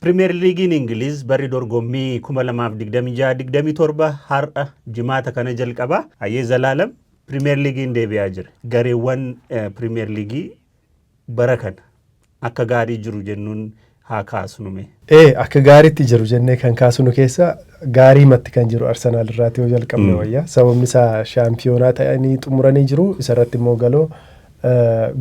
Pirimeer Liigiin Ingiliiz barri dorgommii 2026 27 har'a jimaata kana jalqaba. Ayyee Zalaalam Pirimeer Liigiin deebi'aa jira. Gareewwan Pirimeer Liigii bara kana akka gaarii jiru jennuun haa kaasnu mee. Ee akka gaariitti jiru jennee kan kaasnu keessa gaarii matti kan jiru Arsenaal irraati yoo jalqabne wayya. Sababni isaa shaampiyoonaa ta'anii xumuranii jiru. Isarratti immoo galoo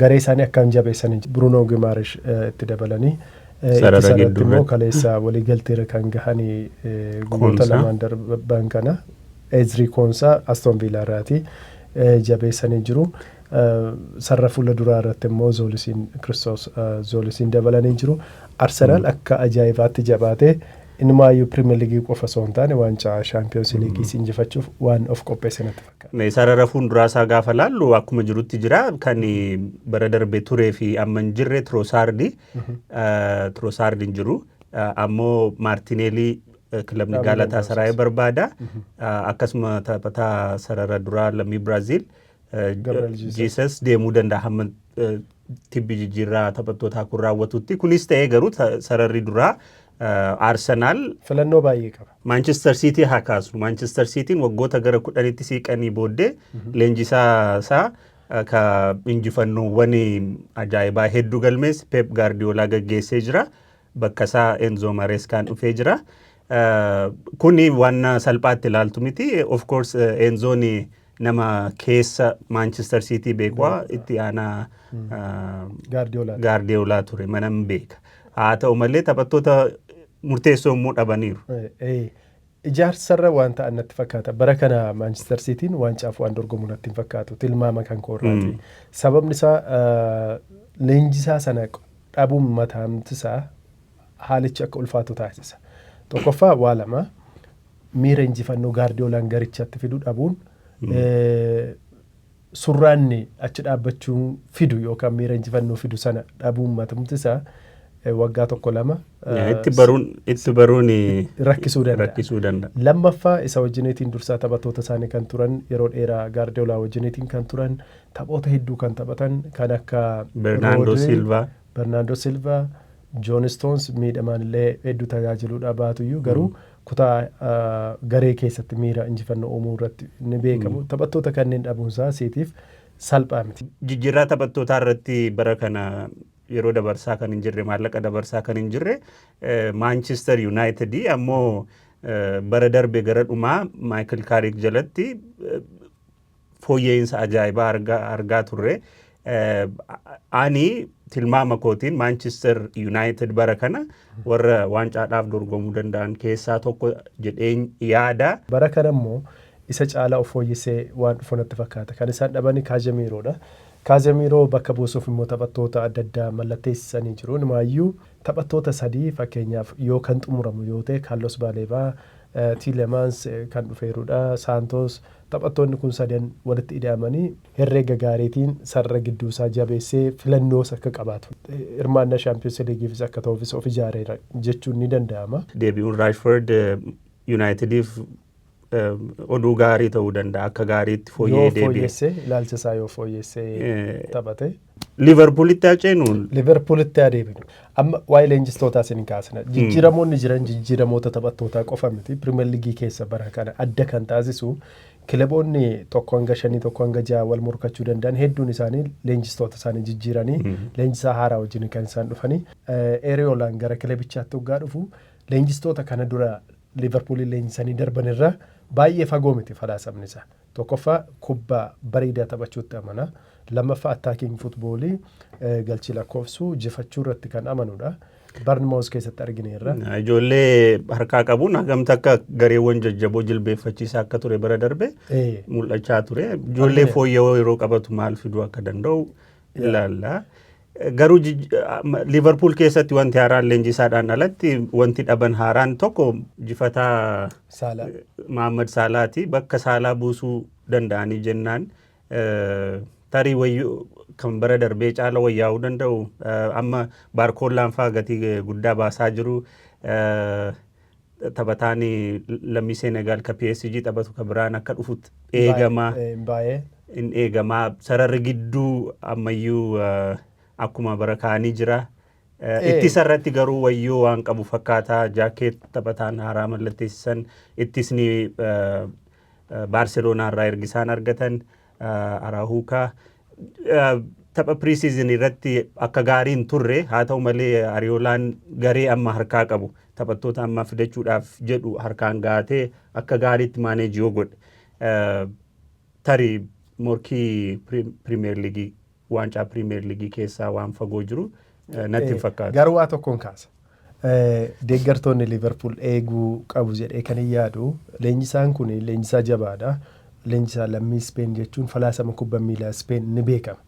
garee isaanii akkaan jabeessanii jiru. Bruunoo Gimaarish itti dabalanii Sarara ittisa irratti gidduu immoo irratti. kaleessa waliigalteerra kan gahani guyyoota Koonsaa. lamaan darban kana Ezrii Koonsaa Aston Viilaa irraati eh, jabeessanii jiru. Eh, Sarara fuula duraa irratti immoo Zoolisiin Kiristoos eh, Zoolisiin dabalanii jiru. Arsenaal akka ajaa'ibaatti jabaatee inumaayyuu Pirimeer Liigii qofa osoo hin taane waancaa Shaampiyoonsi Liigiis injifachuuf waan of qopheesse natti Sarara fuulduraa isaa gaafa laallu akkuma jirutti jira. Kan bara darbe turee fi amma hin jirre Tirosaardi. Tirosaardi hin jiru. Ammoo Maartineelii kilabni Gaalataa Saraayee barbaada. Akkasuma taphataa sarara duraa lammii Biraaziil Jiisas deemuu danda'a hamma tibbi jijjiirraa taphattootaa kun raawwatutti. Kunis ta'ee garuu sararri duraa Arsenaal. Filannoo baay'ee qaba. Maanchistar Siitii haa kaasnu. Maanchistar Siitiin waggoota gara kudhanitti siiqanii booddee leenjisaa isaa ka injifannoowwan ajaa'ibaa hedduu galmees Peep Gaardiyoolaa gaggeessee jira. Bakka isaa Enzoo Mareeskaan dhufee jira. Kuni waan salphaatti ilaaltu miti. Of course Enzoon Nama keessa Maanchister Siitii beeku itti aanaa Gaardiyoolaa ture manan beeka. Haa ta'u malee taphattoota murteessoo immoo dhabaniiru. Ijaarsarra waan ta'an natti fakkaata. Bara kana Maanchister Siitiin waancaaf waan dorgomu natti hin fakkaatu. Tilmaama kan koorraati. Sababni isaa leenjisaa sana dhabuun mataamti isaa haalichi akka ulfaatu taasisa. Tokkoffaa waa lama. Miira injifannoo Gaardiyoolaan garichatti fidu dhabuun surraanni achi dhaabbachuun fidu yookaan miira injifannoo fidu sana dhabuun matumti isaa waggaa tokko lama Itti baruun itti baruun rakkisuu danda'a. rakkisuu danda'a. Lammaffaa isa wajjineetiin dursaa taphattoota isaanii kan turan yeroo dheeraa Gaardiyoolaa wajjineetiin kan turan taphoota hedduu kan taphatan kan akka Bernaandoo Roodri, Silvaa. Barnaandoo Silva, Joon Istoons miidhamaan illee hedduu tajaajiluudhaa baatuyyuu garuu kutaa garee keessatti miira injifannoo uumuu irratti ni beekamu. Taphattoota kanneen dhabuunsaa Siitiif salphaa miti. Jijjiirraa taphattootaa irratti bara kana yeroo dabarsaa kan hin jirre maallaqa dabarsaa kan hin jirre Maanchister Yuunaayitid ammoo bara darbe gara dhumaa Maayikil Kaarik jalatti fooyya'insa ajaa'ibaa argaa, argaa turre. Ani tilmaama kootiin Maanchister Yuunaayitid bara kana warra waancaadhaaf dorgomuu danda'an keessaa tokko jedheen yaada. Bara kana immoo isa caalaa of fooyyessee waan dhufu natti fakkaata. Kan isaan dhabani Kaazemiiroodha. Kaazemiiroo bakka buusuuf immoo taphattoota adda addaa mallatteessisanii jiru. Inumaayyuu taphattoota sadii fakkeenyaaf yoo kan xumuramu yoo ta'e Kaallos Baaleebaa, Tiilemans kan dhufeerudha. Saantoos taphattoonni kun sadan walitti ida'amanii herreega gaariitiin sarara gidduusaa jabeessee filannoos akka qabaatu, hirmaannaa Shaampiyoonsi Liigiifis akka ta'uufis of ijaareera jechuun ni danda'ama. Deebi'uun Raashford Yunaayitidiif oduu gaarii ta'uu danda'a. Akka gaariitti fooyya'ee deebi'e. Yoo fooyyesse, ilaalcha isaa yoo fooyyesse taphate. Liverpoolitti haa ceenuun. Liverpoolitti haa deebinu. Amma waa'ee leenjistootaa isin kaasna. Jijjiiramoonni jiran jijjiiramoota taphattootaa qofa miti. Pirimeer Liigii keessa bara kana adda kan taasisu kilaboonni tokko hanga shanii tokko hanga ja'a wal morkachuu danda'an hedduun isaanii leenjistoota isaanii jijjiiranii leenjisaa haaraa wajjin kan isaan dhufanii. Eeriyoolaan gara kilabichaatti hoggaa dhufu leenjistoota kana dura Liverpooliin leenjisanii darban irraa baay'ee fagoo miti falaasamni isaa. Tokkoffaa kubbaa bareedaa taphachuutti amana. Lammaffaa attacking football galchii lakkoofsuu jifachuu irratti kan amanudha. Barnmoos keessatti argineerra. Ijoollee harkaa qabuun hagamta akka gareewwan jajjaboo jilbeeffachiisaa akka ture bara darbe Ee, mul'achaa ture. Ijoollee Argine. fooyya'oo yeroo qabatu maal fiduu akka danda'u ilaalla. Garuu Liivarpuul keessatti wanti haaraan leenjisaadhaan alatti wanti dhaban haaraan tokko jifataa Maammad Saalaati. Bakka Saalaa buusuu danda'anii jennaan tarii wayyu kan bara darbee caala wayyaa'uu danda'u. Amma baarkoollaan fa'aa gatii guddaa baasaa jiru. taphataan lammii Seenegaal ka PSG taphatu ka biraan akka dhufutti eegamaa. Baay'ee. in eegamaa sararri gidduu ammayyuu eh, akkuma bara kaanii jira. Eh, Eh. Ittisa irratti garuu wayyoo waan qabu fakkaata jaakeet taphataan haaraa mallatteessisan ittisni eh, eh, Baarseloonaa irraa ergisaan argatan. Araahuukaa tapha pre-season irratti akka gaarii hin turre haa ta'u malee Ariyoolaan garee amma harkaa qabu taphattoota amma fidachuudhaaf jedhu harkaan gaatee akka gaariitti maaneeji yoo godhe tarii morkii pirimeer liigii Waancaa Piriimeer Liigii keessaa waan fagoo jiru natti hin fakkaatu. Garuu waa tokkoon kaasa. Deeggartoonni Liiverpuul eeguu qabu jedhee kan hin yaadu. Leenjisaan kun leenjisaa jabaadha. Leenjisaa lammii Ispeen jechuun falaasama kubba miilaa Ispeen ni beekama.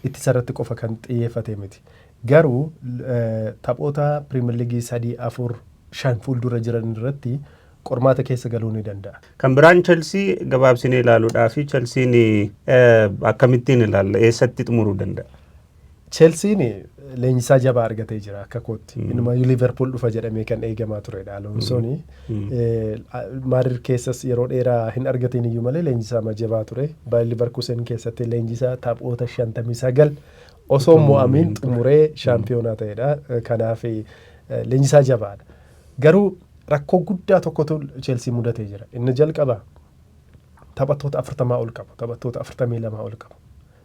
Ittisa irratti qofa kan xiyyeeffate miti. Garuu taphoota Piriimeer Liigii sadii afur shan fuuldura jiran irratti qormaata keessa galuu ni danda'a. Kan biraan Chelsii gabaabsinee ilaaluudhaafi Chelsiin akkamittiin ilaalla? Eessatti xumuruu danda'a? Chelsiin leenjisaa jabaa argatee jira akka kootti. Inumaayyuu Liiverpuul dhufa jedhamee kan eegamaa turedha Aloonsoon. Maadir keessas yeroo dheeraa hin argatiin iyyuu malee leenjisaa ma jabaa ture. Baay'ee Liiverkuusen keessatti leenjisaa taphoota 59 osoo mo'amiin xumuree shaampiyoonaa ta'edha. Kanaaf leenjisaa jabaadha. Garuu rakkoo guddaa tokkotu Chelsii mudatee jira. Inni jalqabaa taphattoota 40 ol qabu. Taphattoota 42 ol qabu.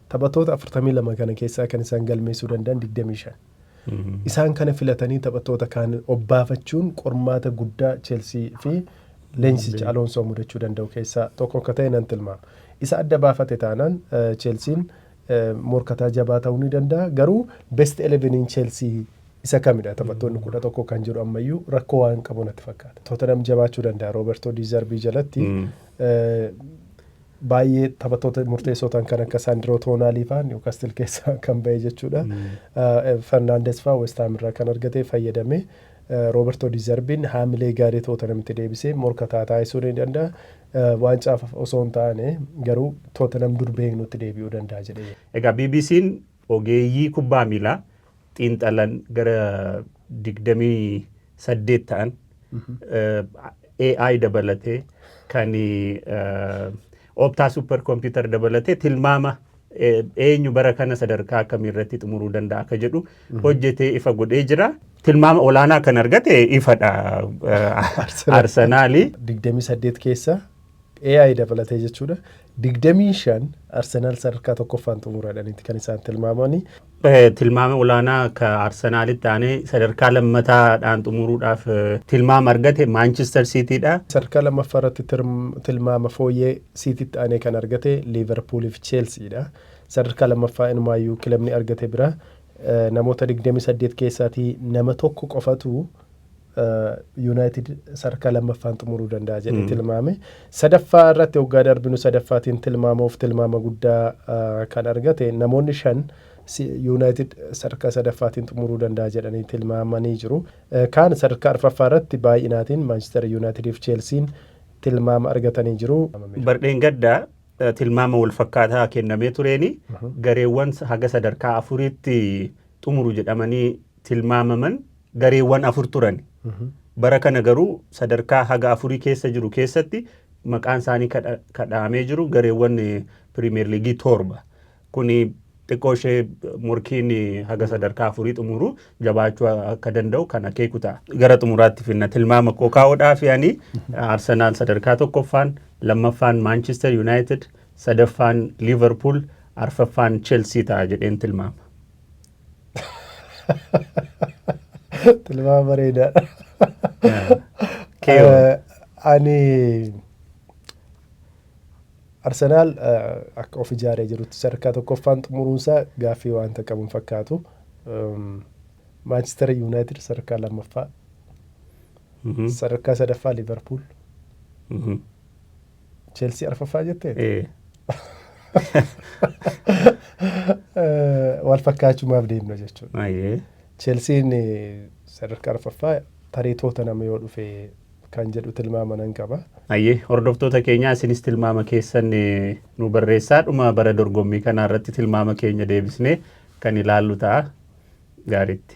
Taphattoota 42 kana keessaa kan isaan galmeessuu danda'an 25. Isaan kana filatanii taphattoota kaan obbaafachuun qormaata guddaa Chelsii fi leenjisicha Aloonsoo mudachuu danda'u keessaa tokko akka ta'e nan tilmaama. Isa adda baafate taanaan Chelsiin morkataa jabaa ta'uu ni danda'a. Garuu best 11n Chelsea isa kamidha taphattoonni 11 kan jedhu ammayyuu rakkoo waan qabu natti fakkaata. Tottenham jabaachuu danda'a Roberto Di Zerbi jalatti. Eh, baay'ee taphattoota murteessoo ta'an kan akka Sandro Tonali faa Newcastle keessaa kan ba'e jechuudha. Eh, Fernandes faa West Ham irraa kan argate fayyadamee eh, Roberto Di Zerbiin haamilee gaarii Tottenhamitti deebisee morkataa taasisuu ni danda'a. Waancaaf osoo hin taane garuu Tootenham dur beeknutti deebi'uu danda'a jedhee yaada. Egaa BBC'n ogeeyyii kubbaa miilaa xiinxalan gara 28 ta'an AI dabalatee kan Opta Super Computer dabalatee tilmaama eenyu bara kana sadarkaa akkamii irratti xumuruu danda'a akka jedhu hojjetee ifa godhee jira. Tilmaama olaanaa kan argate ifadha Arsenaalii. 28 keessa AI dabalatee jechuudha. 25 Arsenaal sadarkaa tokkoffaan xumuradhaniiti kan isaan tilmaamanii. Tilmaama olaanaa akka Arsenaalitti aanee sadarkaa lammataadhaan xumuruudhaaf tilmaama argate Maanchister Siitiidha. Sadarkaa lammaffaa irratti tilmaama fooyyee Siititti aanee kan argate Liiverpuulii fi Cheelsiidha. Sadarkaa lammaffaa inumaayyuu kilabni argate bira namoota 28 keessaatii nama tokko qofatu Yuunaayitid sadarkaa lammaffaan xumuruu danda'a jedhee tilmaame. Sadaffaa irratti hoggaa darbinu sadaffaatiin tilmaamuuf tilmaama guddaa kan argate namoonni shan Yuunaayitid sadarkaa sadaffaatiin xumuruu danda'a jedhanii tilmaamanii jiru. Kaan sadarkaa arfaffaa irratti baay'inaatiin Maanchister Yuunaayitidii fi Cheelsiin tilmaama argatanii jiru. Bardheengaddaa tilmaama walfakkaataa kennamee tureeni gareewwan haga sadarkaa afuriitti xumuru jedhamanii tilmaamaman gareewwan afur turani. Bara kana garuu sadarkaa haga afurii keessa jiru keessatti maqaan isaanii kadha- kadhaamee jiru gareewwan eh, piriimeer liigii torba. Kuni xiqqoo ishee morkiin eh, haga sadarkaa afurii xumuru jabaachuu akka danda'u kan akeeku ta'a. Gara xumuraatti finna tilmaama koo kaa'uudhaaf yaani Arsenaal sadarkaa tokkoffaan, lammaffaan Maanchister Yuunaayitid, sadaffaan Liiverpuul, arfaffaan Chelsii ta'a jedheen tilmaama. Tilmaama bareedaadha. Keewoo. Eh, Ani Arsenaal eh, akka of ijaaree jirutti sadarkaa tokkoffaan xumuruunsaa gaaffii waanta qabu hin fakkaatu. Ehm, Maanchister Yuunaayitid sadarkaa lammaffaa, Mhm. sadarkaa sadaffaa Liverpuul, Mhm. Chelsea arfaffaa jettee? Ee. Wal fakkaachumaaf deemna jechuudha. Ayyee. Chelsiin eh, sadarkaa arfaffaa tarii toota nama yoo dhufe kan jedhu tilmaama nan qaba. Ayyee hordoftoota keenyaa isinis tilmaama keessan eh, nu barreessaa dhuma bara dorgommii kanaa irratti tilmaama keenya deebisnee kan ilaallu ta'a gaariitti.